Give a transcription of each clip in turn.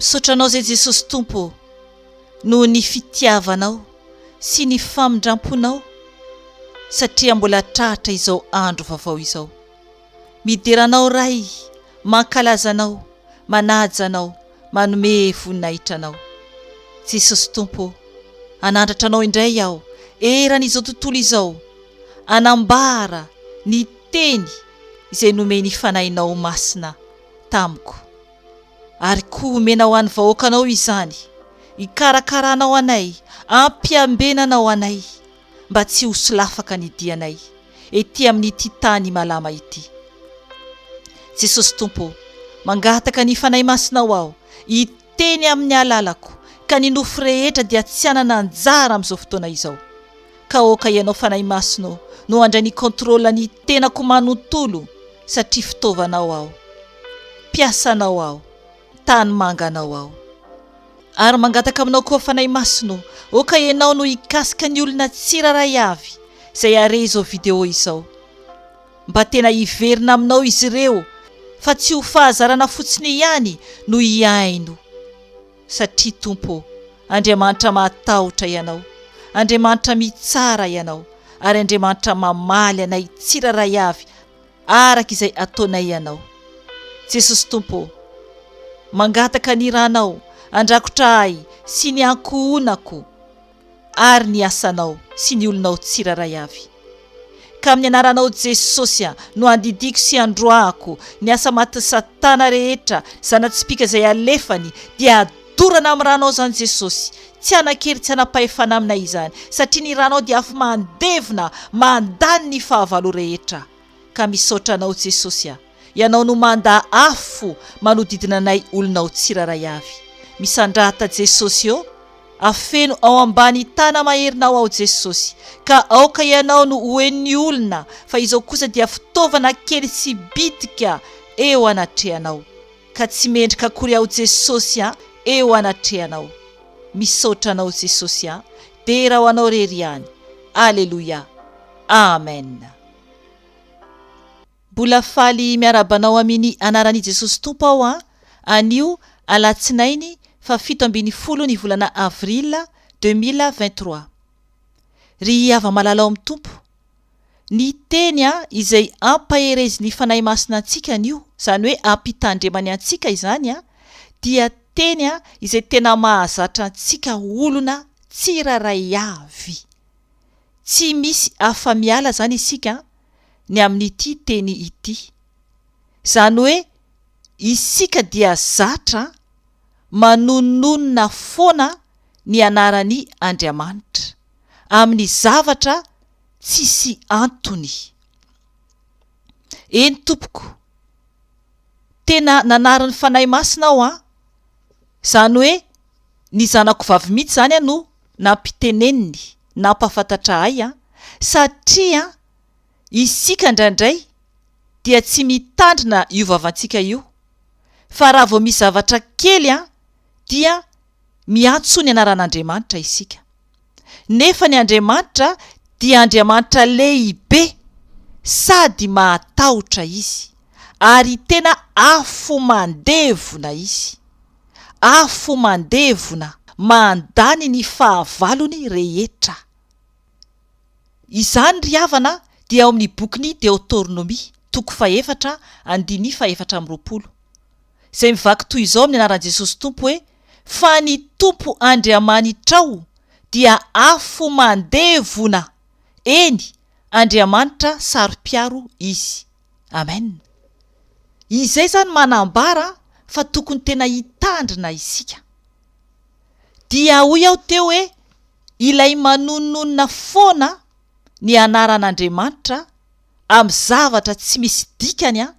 Misaotra Anao izay Jesosy Tompo ô, noho ny fitiavanao sy ny famindramponao satria mbola tratra izao andro vaovao izao. Midera Anao Ray, mankalaza Anao, manaja Anao, manome voninahitra Anao. Jesosy Tompo ô, hanandratra Anao indray aho eran'izao tontolo izao, hanambara ny. Teny izay nomen'i Fanahinao Masina tamiko. Ary koa homena ho an'ny vahoakanao izany, hikarakaranao anay, hampiambenanao anay, mba tsy ho solafaka ny dianay, ety amin'ity tany malama ity. Jesosy Tompo ô, mangataka ny Fanahy Masinao aho, hiteny amin'ny alalako, ka ny nofo rehetra dia tsy hanana anjara amin'izao fotoana izao. ka aoka ianao Fanahy Masina ô no handray ny contrôle ny tenako manontolo satria fitaovanao aho, mpiasanao aho, tanimanga anao aho. Ary mangataka aminao koa Fanahy Masina ô, aoka ianao no hikasika ny olona tsirairay avy izay hare izao video izao, mba tena hiverina aminao izy ireo fa tsy ho fahazarana fotsiny ihany no hihaino. Satria Tompo ô, Andriamanitra mahatahotra Ianao, Andriamanitra mitsara Ianao, ary Andriamanitra mamaly anay tsirairay avy araka izay ataonay Ianao. Jesosy Tompo ô, mangataka ny Ranao handrakotra ahy sy ny ankohonako. ary ny asanao sy ny olonao tsirairay avy. Ka amin'ny anaranao Jesosy no andidiako sy androahako ny asa matin'i satana rehetra, zana-tsipìka izay alefany, dia adorana amin'ny ranao izany Jesosy, tsy hanan-kery tsy hanam-pahefana amina izany, satria ny ranao dia afo mandevona mandany ny fahavalo rehetra. Ka misaotra anao Jesosy a! Ianao no mandà afo fo manodidina anay olona ao tsiraray avy. Misandrata Jesosy ô! Afeno ao ambany tana maherinao aho Jesosy, ka aoka Ianao no ho henon'ny olona fa izao kosa dia fitaovana kely sy bitika eo anatrehanao. Ka tsy mendrika akory aho Jesosy a! Eo anatrehanao. Misaotra anao Jesosy a! Dera ho anao rery ihany. Aleloia. Amen. Mbola faly miarahaba anao amini anaran'i Jesosy Tompo aho an! anio alatsinainy faha fito ambin'ny folo ny volana avril deux mille vingt trois. Ry hava-malala ao amin'ny Tompo, ny Teny an! izay ampaherezin'ny Fanahy Masina antsika anio, izany hoe ampitandremany antsika izany an! dia Teny an! izay tena mahazatra antsika olona tsirairay avy. Tsy misy afa-miala izany isika ny amin'ity teny ity. Izany hoe isika dia zatra manononona foana ny anaran'I Andriamanitra, amin'ny zavatra tsisy antony. Eny tompoko, tena nanarin'ny Fanahy Masina aho an! Izany hoe ny zanako vavy mihitsy izany no nampiteneniny, nampahafantatra ahy satria isika indraindray dia tsy mitandrina io vavantsika io fa raha vao misy zavatra kely dia miantso ny anaran'Andriamanitra isika. nefa ny Andriamanitra dia Andriamanitra lehibe sady mahatahotra Izy, ary tena afomandevona Izy, afomandevona mandany ny fahavalony rehetra. Izany ry havana dia ao amin'ny bokin'ny Deotornomia, toko fahefatra, andininy fahefatra amby roapolo. izay mivaky toy izao amin'ny anaran'i Jesosy Tompo hoe, Fa ny Tompo Andriamanitrao dia afo mandevona, eny, Andriamanitra saro-piaro Izy. Amen. Izay izany manambara fa tokony tena hitandrina isika. Dia hoy aho teo hoe, ilay manononona foana ny anaran'Andriamanitra, Am zavatra tsy misy dikany an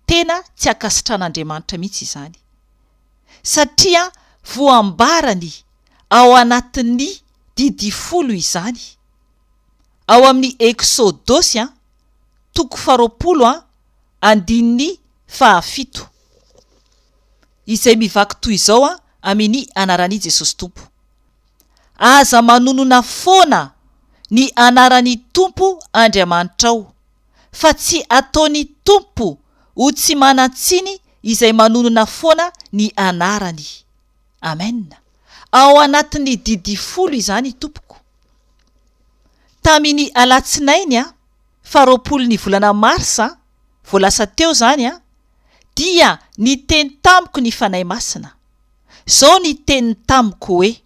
tena tsy ankasitran'Andriamanitra mihitsy izany satria voambarany ao anatin'ny Didy folo izany ao amin'ny Eksodosy an toko faharoapolo an andininy fahafito izay mivaky toy izao an Amin' i Anaran'i Jesosy Tompo. Aza manonona foana ny anaran'ny Tompo Andriamanitrao, fa tsy ataony Tompo ho tsy manan-tsiny izay manonona foana ny anarany. Amen. Ao anatin'ny Didy Folo izany tompoko. Tamin'ny alatsinainy faharoapolon'ny volana marsa vao lasa teo izany dia niteny tamiko ny Fanahy Masina. Izao ny teniny tamiko hoe,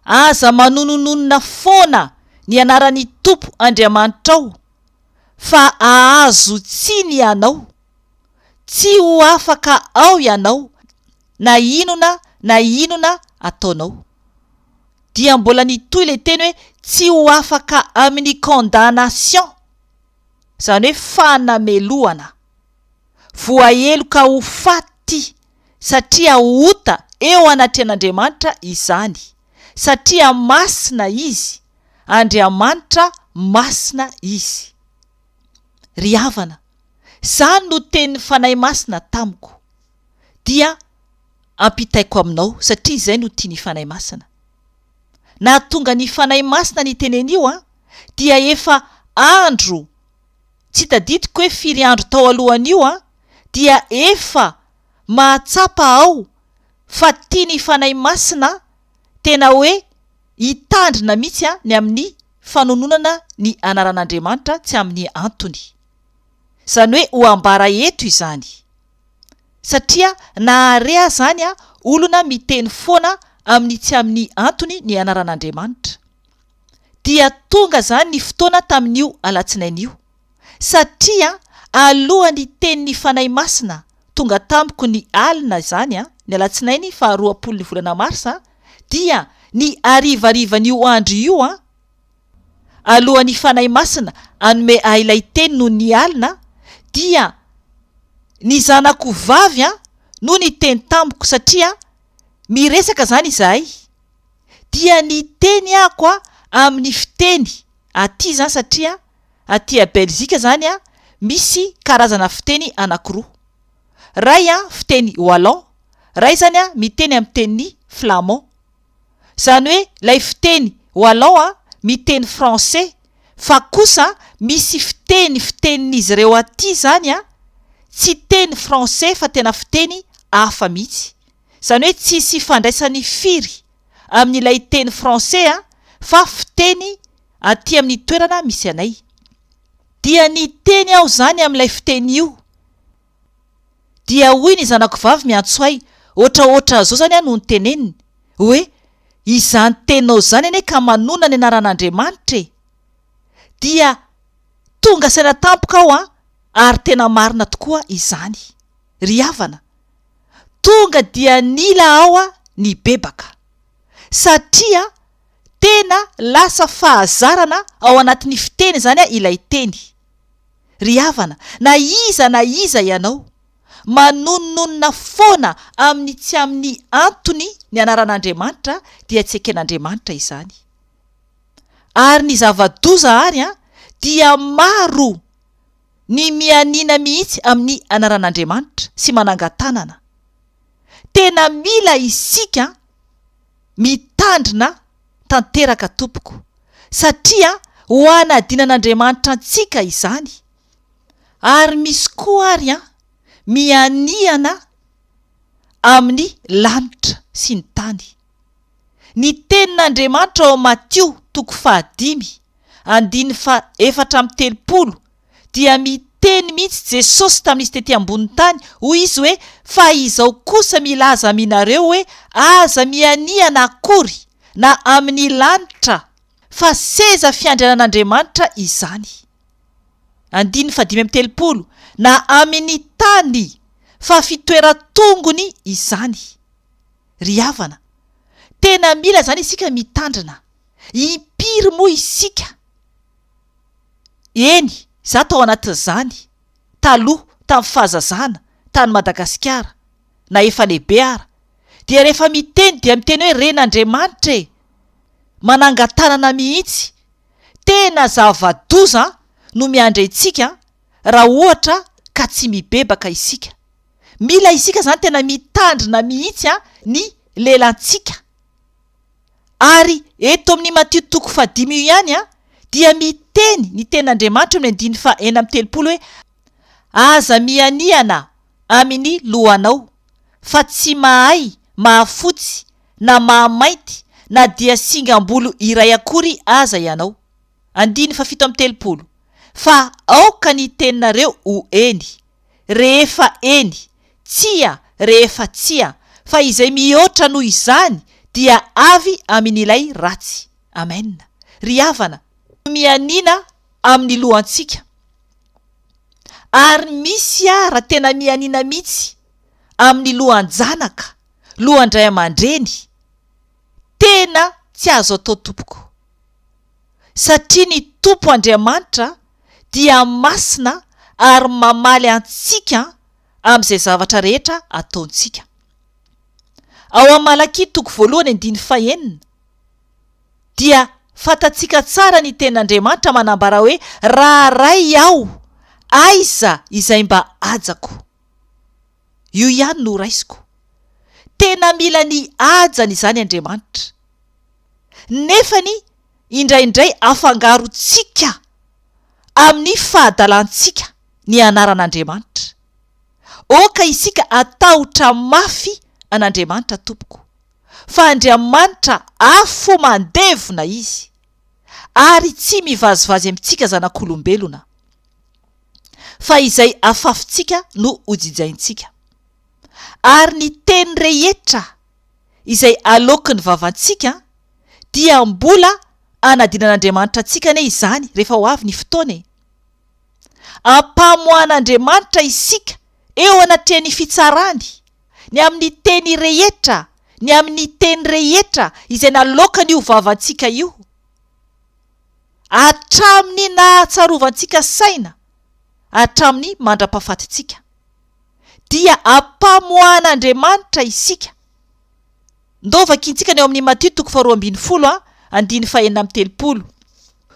Aza manonononona foana ny anaran'ny Tompo Andriamanitrao, fa ahazo tsiny ianao. Tsy ho afaka ao ianao na inona na inona ataonao. Dia mbola nitohy ilay teny hoe tsy ho afaka amin'ny condamnation, izany hoe fanamelohana. Voaheloka ho faty satria ota eo anatrehan'Andriamanitra izany, satria masina Izy, Andriamanitra masina Izy. Ry havana, izany no tenin'ny Fanahy Masina tamiko, dia ampitaiko aminao, satria izay no tian'ny Fanahy Masina. Nahatonga ny Fanahy Masina nitenen'io an, dia efa andro, Tsy tadidiko hoe firy andro tao alohan'io aho dia efa mahatsapa aho fa tian'ny Fanahy Masina aho, tena hoe hitandrina mihitsy aho ny amin'ny fanononana ny anaran'Andriamanitra tsy amin'ny antony. Izany hoe ho ambara eto izany. Satria na àry azany aho olona miteny foana amin'ny tsy amin'ny antony ny anaran'Andriamanitra. dia tonga izany ny fotoana tamin'io alatsinainy io, satria alohan'ny tenin'ny Fanahy Masina tonga tamiko ny alina izany, ny alatsinainy faha roapolon'ny volana marsa, dia ny harivarivan'io andro io, alohan'ny Fanahy Masina hanome ahy ilay teny noho ny alina, dia ny zanako vavy no niteny tamiko, satria miresaka izany izahay. dia ny teny ako a amin'ny fiteny aty zany satria aty a belzika zany a misy karazana fiteny anakiroa ray a fiteny wallon ray zany a miteny amin'ny teniny flamon zany hoe lay fiteny wallon a miteny français fa kosa misy fiteny fitenin'izy ireo aty zany a tsy teny français fa tena fiteny afa mihitsy Izany hoe tsisy ifandraisany firy amin'ilay teny français fa fiteny aty amin'ny toerana misy anay. Dia niteny aho izany amin'ilay fiteny io. Dia hoy ny zanako vavy miantso ahy, ohatraohatra zao izany no niteneniny, hoe izany teninao izany anie ka manonona ny anaran'Andriamanitra e! Dia tonga saina tampoka aho ary tena marina tokoa izany. Ry havana. Tonga dia nila aho nibebaka, satria tena lasa fahazarana ao anatin'ny fiteny izany ilay teny. Ry havana, na iza na iza ianao, manononona foana amin'ny tsy amin'ny antony ny anaran'Andriamanitra dia tsy eken'Andriamanitra izany. Ary ny zava-doza àry dia maro! Ny mianiana mihitsy amin'ny anaran'Andriamanitra sy manangan-tanana. Tena mila isika mitandrina tanteraka tompoko satria ho anadinan'Andriamanitra antsika izany ary misy koa ary an mianiana amin'ny lanitra sy ny tany. Ny tenin'Andriamanitra ao Matio toko fahadimy, andininy faha-efatra amby telopolo dia miteny mihitsy Jesosy tamin'izy tety ambonin'ny tany, hoy Izy hoe, Fa izao kosa milaza aminareo hoe, aza mihanihana akory na amin'ny lanitra, fa seza fiandrianan'Andriamanitra izany, andininy fahadimy amby telopolo, na amin'ny tany, fa fitoeran-tongony izany. Ry havana, tena mila izany isika mitandrina. Impiry moa isika? Eny, izaho tao anatin'izany, taloha, tamin'ny fahazazana, tany Madagasikara, na efa lehibe ara, dia rehefa miteny dia miteny hoe Ren'Andriamanitra e! Manangan-tanana mihitsy. Tena zava-doza no miandry antsika raha ohatra ka tsy mibebaka isika. Mila isika izany tena mitandrina mihitsy ny lelantsika. Ary eto amin'ny Matio toko fahadimy io ihany dia miteny ny tenin'Andriamanitra amin'ny andininy faha enina amby telopolo hoe Aza mihanihana amin'ny lohanao, fa tsy mahay mahafotsy na mahamainty na dia singam-bolo iray akory aza ianao. Andininy fahafito amby telopolo, Fa aoka ny teninareo ho eny. rehefa eny, tsia rehefa tsia, fa izay mihoatra noho izany dia avy amin' ilay ratsy. Amena. Ry havana, mianiana amin'ny lohantsika, ary misy ara tena mianiana mihitsy amin'ny lohan-janaka, lohan-dray aman-dreny, tena tsy azo atao tompoko. satria ny Tompo Andriamanitra dia masina ary mamaly antsika amin'izay zavatra rehetra ataontsika. Ao amin'ny Malakia toko voalohany andininy fahenina dia fantatsika tsara ny tenin'Andriamanitra manambara hoe raha Ray aho, aiza izay mba hajako? Io ihany no horaisiko. Tena mila ny hajany izany Andriamanitra. Nefany indraindray afangarontsika amin'ny fahadalantsika ny anaran'Andriamanitra. Oka isika hatahotra mafy an'Andriamanitra tompoko, fa Andriamanitra afo mandevona Izy, ary tsy mivazivazy amintsika zanak'olombelona. fa izay afafintsika no hojijaintsika, ary ny teny rehetra izay aloaky ny vavantsika dia mbola anadinan'Andriamanitra antsika anie izany rehefa ho avy ny fotoana e! Ampamoahan'Andriamanitra isika eo anatrehan'ny fitsarany, ny amin'ny teny rehetra, ny amin'ny teny rehetra izay naloakan'io vavantsika io, hatramin'ny nahatsarovantsika saina hatramin'ny mandra-pahafatintsika, dia ampamoahan'Andriamanitra isika. Ndao vakintsika ny ao amin'ny Matio toko faharoa ambin'ny folo andininy fahenina amby telopolo.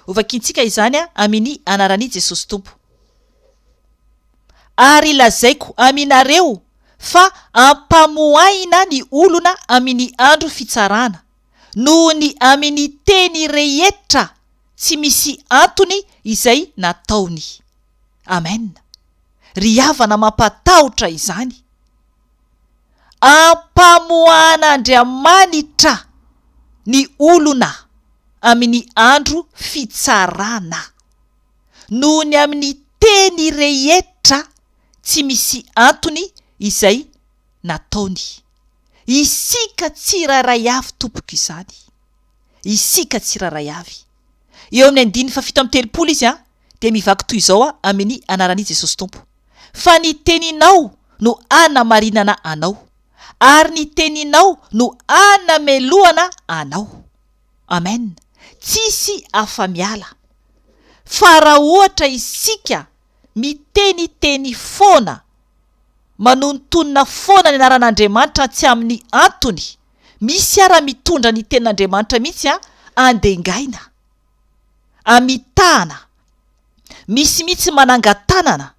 Hovakintsika izany amin'ny anaran'i Jesosy Tompo. Ary lazaiko aminareo fa ampamoahina ny olona amin'ny andro fitsarana. noho ny amin'ny teny rehetra tsy misy antony izay nataony. Amen. Ry havana mampatahotra izany. Ampamoahan'Andriamanitra ny olona amin'ny andro fitsarana noho ny amin'ny teny rehetra tsy misy antony izay nataony. Isika tsirairay avy tompoko izany. Isika tsirairay avy. Eo amin'ny andininy fahafito amby telopolo izy an, dia mivaky toy izao an, Ameni anaran'i Jesosy Tompo. Fa ny teninao no hanamarinana anao. Ary ny teninao no hanamelohana anao. Amen. Tsisy afa-miala. Fa raha ohatra isika miteniteny foana Manonontonona foana ny anaran'Andriamanitra tsy amin'ny antony misy ara mitondra ny tenin'Andriamanitra mihitsy an andengaina amitahana misy mihitsy manangatanana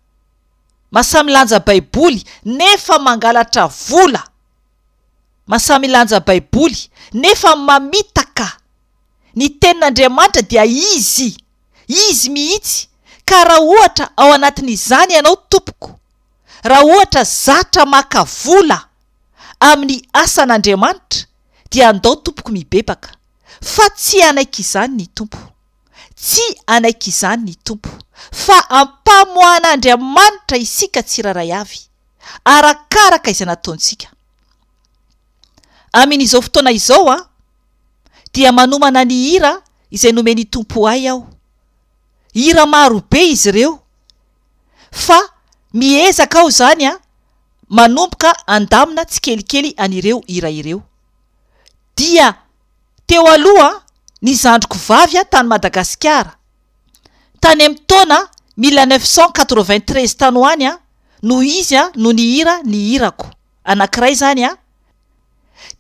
masamilanja baiboly nefa mangalatra vola masamilanja baiboly nefa mamitaka Ny Tenin'Andriamanitra dia Izy. Izy mihitsy. Ka raha ohatra ao anatin'izany ianao, tompoko, raha ohatra zatra maka vola amin'ny asan'Andriamanitra, dia andao, tompoko, mibebaka. Fa tsy hanaiky izany ny Tompo. Tsy hanaiky izany ny Tompo. Fa ampamoahan'Andriamanitra isika tsirairay avy, arakaraka izay nataontsika. Amin'izao fotoana izao, an. dia manomana ny hira izay nomen'ny Tompo ahy aho. Hira maro be izy ireo, fa miezaka aho izany manomboka handamina tsikelikely an'ireo hira ireo. Dia teo aloha ny zandriko vavy tany Madagasikara, tany amin'ny taona mille neuf cent quatre-vingt-treize tany ho any no izy no nihira ny hirako. anankiray izany an,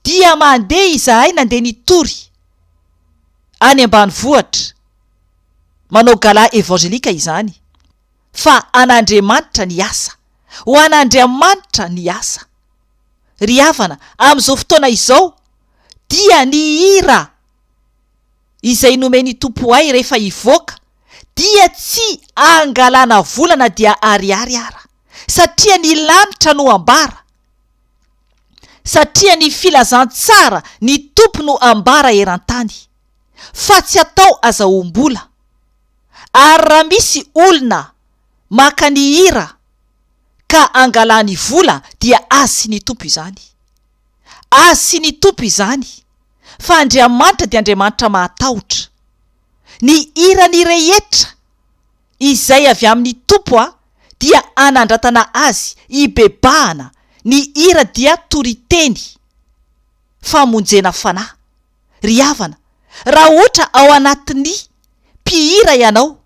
dia mandeha izahay nandeha nitory any ambanivohitra, manao gala evangelika izany, fa an'Andriamanitra ny asa, ho an'Andriamanitra ny asa. Ry havana, amin'izao fotoana izao, dia ny hira izay nomen'ny Tompo ahy rehefa hivoaka, dia tsy angalana vola na dia ariary ara. satria ny lanitra no ambara, satria ny filazantsara ny Tompo no ambara eran-tany, fa tsy atao azahoam-bola, ary raha misy olona maka ny hira ka angalany vola dia azy sy ny Tompo izany. Azy sy ny Tompo izany, fa Andriamanitra dia Andriamanitra mahatahotra. Ny hirany rehetra. Izay avy amin'ny Tompo a dia anandratana azy ibebahana ny hira dia toriteny famonjena fanahy ry havana raha hoatra ao anatin'ny mpihira ianao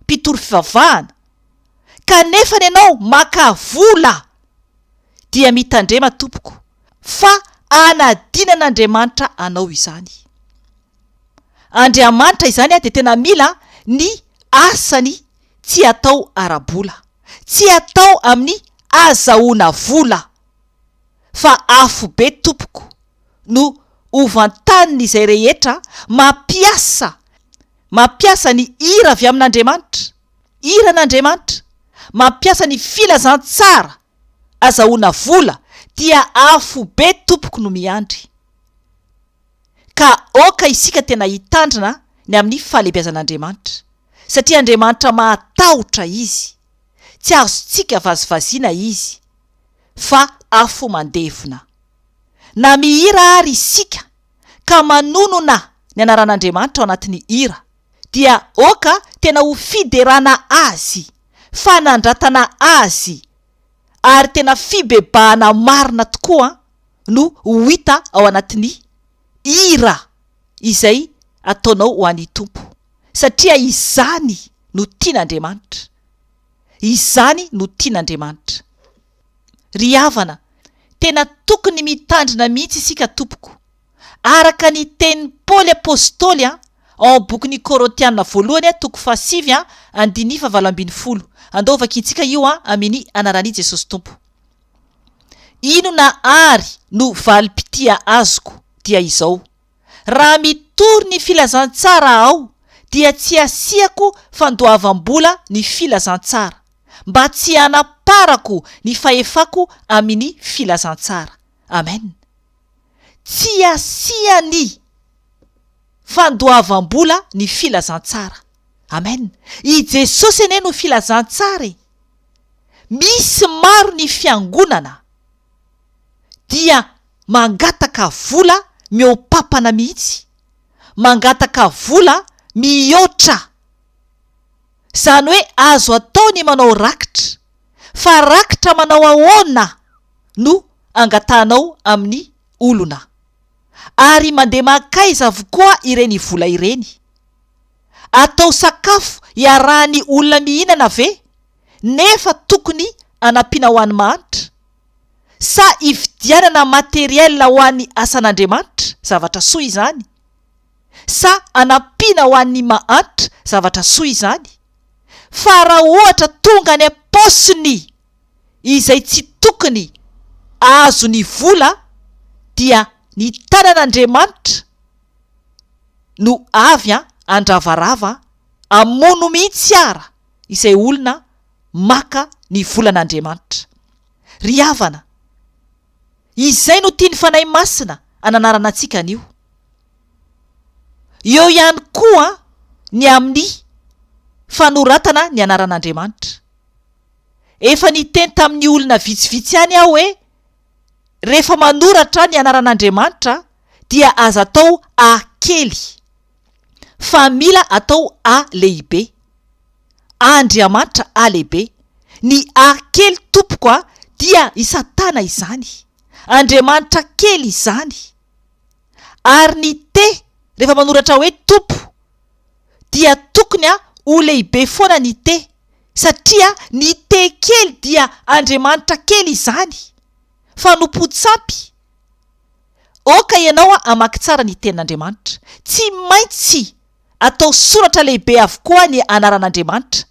mpitory fivavahana kanefa ny anao maka vola dia mitandrema tompoko fa anadinan'Andriamanitra anao izany Andriamanitra izany dia tena mila ny asany tsy atao ara-bola, tsy atao amin'ny azahoana vola fa afobe tompoko no hovantanin'izay rehetra mampiasa mampiasa ny hira avy amin'Andriamanitra, hiran'Andriamanitra, mampiasa ny filazantsara azahoana vola dia afobe tompoko no miandry. ka aoka isika tena hitandrina ny amin'ny fahalebiazan'Andriamanitra, satria Andriamanitra mahatahotra Izy, tsy azontsika vazivaziana Izy, fa afo mandevona. Na mihira ary isika ka manonona ny anaran'Andriamanitra ao anatin'ny hira, dia aoka tena ho fiderana Azy, fanandratana Azy, ary tena fibebahana marina tokoa no ho hita ao anatin'ny hira izay ataonao ho an'i Tompo satria izany no tian'Andriamanitra, izany no tian'Andriamanitra. Ry havana, tena tokony mitandrina mihitsy isika tompoko. Araka ny tenin'i Paoly apostoly ao amin'ny bokin'ny Korintiana voalohany toko fahasivy andininy fahavalo ambin'ny folo. Andao hovakintsika io amin'ny anaran'i Jesosy Tompo. Inona àry no valim-pitia azoko? Dia izao, Raha mitory ny filazantsara aho, dia tsy hasiako fandoavam-bola ny filazantsara, mba tsy hanaparako ny fahefako amin'ny filazantsara. Amena. Tsy asian'ny fandoavam-bola ny filazantsara. Amen. I Jesosy anie no filazantsara e! Misy maro ny fiangonana dia mangataka vola mihoa-papana mihitsy, mangataka vola mihoatra. Izany hoe azo atao ny manao rakitra, fa rakitra manao ahoana no angatahanao amin'ny olona? Ary mandeha mankaiza avokoa ireny vola ireny? Atao sakafo iarahan'ny olona mihinana ve nefa tokony anampiana ho an'ny mahantra? Sa ividianana matériel ho an'ny asan'Andriamanitra, zavatra soa izany? Sa anampiana ho an'ny mahantra zavatra soa izany? Fa raha ohatra tonga any am-paosiny izay tsy tokony azony vola dia ny tanan'Andriamanitra no avy handravarava hamono mihitsy ara izay olona maka ny volan'Andriamanitra. Ry havana. Izay no tian'ny Fanahy Masina ananarana antsika anio. Eo ihany koa ny amin'ny fanoratana ny anaran'Andriamanitra. Efa niteny tamin'ny olona vitsivitsy ihany aho hoe, rehefa manoratra ny anaran'Andriamanitra dia aza atao A kely. fa mila atao A lehibe. A Andriamanitra A lehibe. Ny A kely tompoko a dia i satana izany. Andriamanitra kely izany. Ary ny T rehefa manoratra hoe tompo dia tokony a ho lehibe foana ny T satria ny T kely dia Andriamanitra kely izany. Fanompoan-tsampy. Aoka ianao hamaky tsara ny Tenin'Andriamanitra. Tsy maintsy atao soratra lehibe avokoa ny anaran'Andriamanitra,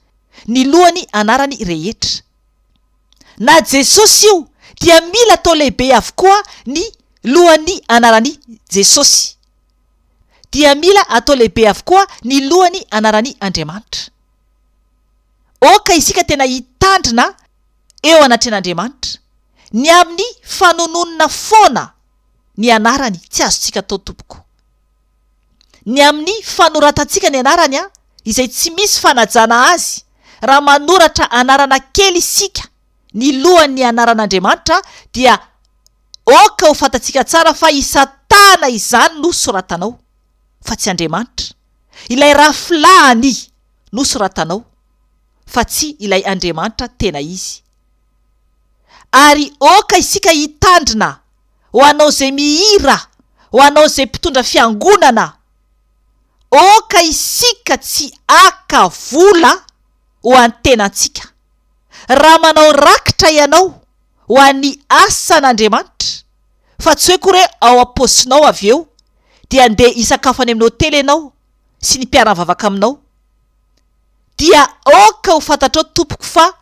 ny lohan'ny anarany rehetra. Na Jesosy io, dia mila atao lehibe avokoa ny lohan'ny anaran'i Jesosy. Dia mila atao lehibe avokoa ny lohan'ny anaran'i Andriamanitra. Aoka isika tena hitandrina eo anatrehan'Andriamanitra, ny amin'ny fanononona foana ny anarany tsy azontsika atao tompoko. Ny amin'ny fanoratantsika ny anarany izay tsy misy fanajana azy raha manoratra anarana kely isika ny lohan'ny anaran'Andriamanitra dia ok ho fantatsika tsara fa i satana izany no soratanao fa tsy Andriamanitra, ilay rafilahany no soratanao. fa tsy ilay Andriamanitra tena izy. Ary aoka isika hitandrina ho anao izay mihira, ho anao izay mpitondra fiangonana, aoka isika tsy haka vola ho an'ny tenantsika. Raha manao rakitra ianao ho an'ny asan'Andriamanitra, fa tsy hoe koa re ao am-paosinao avy eo, dia andeha hisakafo any amin'ny hotely ianao sy ny mpiara-mivavaka aminao, dia aoka ho fantatrao tompoko fa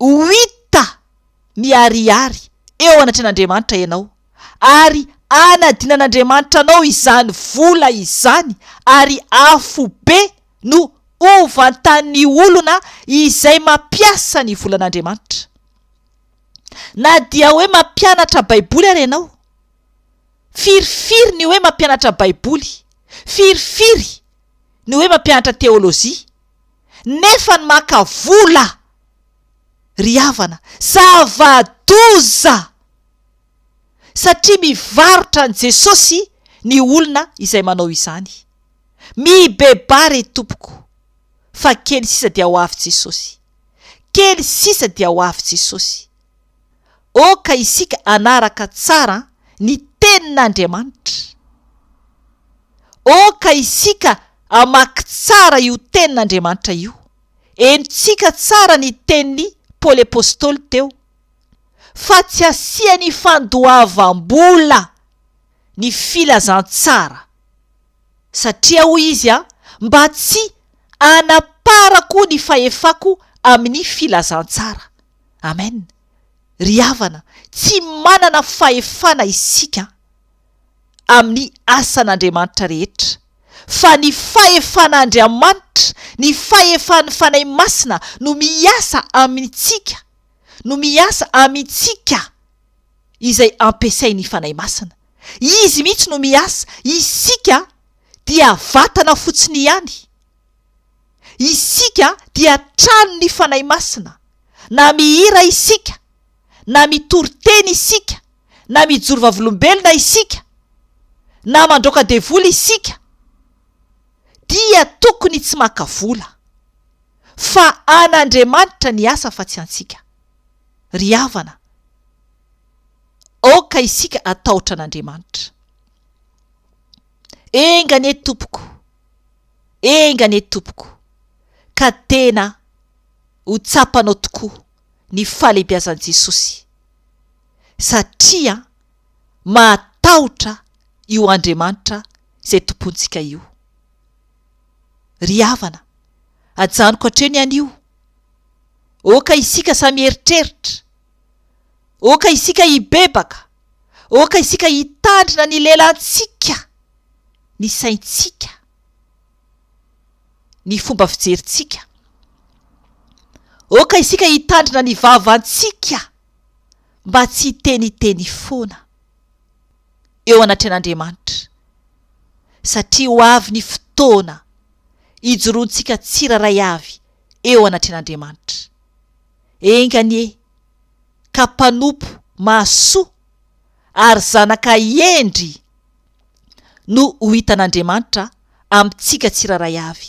ho hita miharihary eo anatrehan'Andriamanitra ianao ary hanadinan'Andriamanitra anao izany vola izany ary afobe no ho vantan'ny olona izay mampiasa ny volan'Andriamanitra. Na dia hoe mampianatra baiboly ary ianao, firifiry ny hoe mampianatra baiboly, firifiry ny hoe mampianatra teolojia nefa ny maka vola ry havana zava-doza satria mivarotra an'i Jesosy ny olona izay manao izany. Mibebà re tompoko fa kely sisa dia ho avy Jesosy. Kely sisa dia ho avy Jesosy. Oh ka isika hanaraka tsara ny Tenin'Andriamanitra! Oh ka isika hamaky tsara io Tenin'Andriamanitra io! Henontsika tsara ny tenin'i Paoly Apostoly teo, Fa tsy asian'ny fandoavam-bola ny filazantsara. Satria hoy izy, Mba tsy hanaparako ny fahefako amin'ny filazantsara. Amen! Ry havana, tsy manana fahefana isika amin'ny asan'Andriamanitra rehetra, fa ny fahefan'Andriamanitra, ny fahefan'ny Fanahy Masina no miasa amintsika, no miasa amintsika izay ampiasain'ny Fanahy Masina. Izy mihitsy no miasa, isika dia vatana fotsiny ihany. Isika dia tranon'ny Fanahy Masina, na mihira isika, na mitory teny isika, na mijoro vavolombelona isika, na mandroaka devoly isika, dia tokony tsy maka vola, fa an'Andriamanitra ny asa fa tsy antsika. Ry havana, aoka isika hatahotra an'Andriamanitra. Enga anie, tompoko. Enga anie tompoko ka tena ho tsapanao tokoa ny fahalehibiazan'i Jesosy satria mahatahotra io Andriamanitra izay Tompontsika io. Ry havana, ajanoko hatreo ny anio. Oka isika samy hieritreritra. Oka isika hibebaka. Aoka isika hitandrina ny lelantsika, ny saintsika, ny fomba fijerintsika. Aoka isika hitandrina ny vavantsika mba tsy hiteniteny foana eo anatrehan'Andriamanitra, satria ho avy ny fotoana hijoroantsika tsirairay avy eo anatrehan'Andriamanitra. Enga anie! ka mpanompo mahasoa ary zanaka hendry no ho hitan'Andriamanitra amintsika tsirairay avy,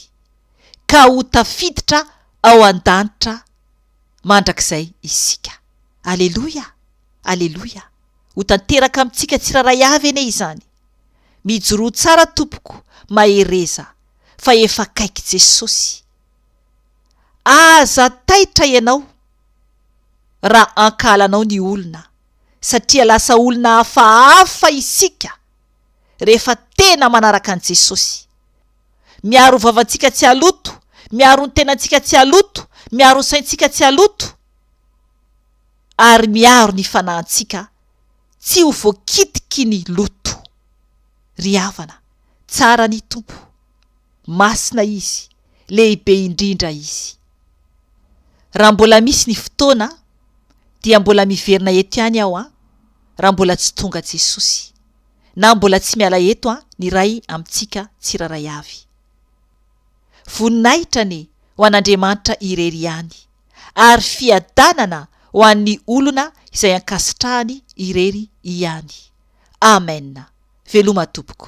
ka ho tafiditra ao an-danitra mandrakizay isika. Aleloia! Aleloia! Ho tanteraka amintsika tsirairay avy anie izany. Mijoroa tsara tompoko, mahereza, fa efa akaiky Jesosy. Aza taitra ianao. raha ankahalanao ny olona, satria lasa olona hafahafa isika rehefa tena manaraka an'i Jesosy. Miaro vavantsika tsy haloto, miaro ny tenantsika tsy haloto, miaro ny saintsika tsy haloto, ary miaro ny fanahintsika tsy ho voakitiky ny loto. Ry havana, tsara ny Tompo. Masina Izy, lehibe indrindra Izy. Raha mbola misy ny fotoana dia mbola miverina eto ihany aho an, raha mbola tsy tonga Jesosy, na mbola tsy miala eto an ny Ray amintsika tsiraray avy. Voninahitra anie ho an'Andriamanitra irery ihany, ary fiadanana ho an'ny olona izay ankasitrahany irery ihany. Amen. Veloma tompoko.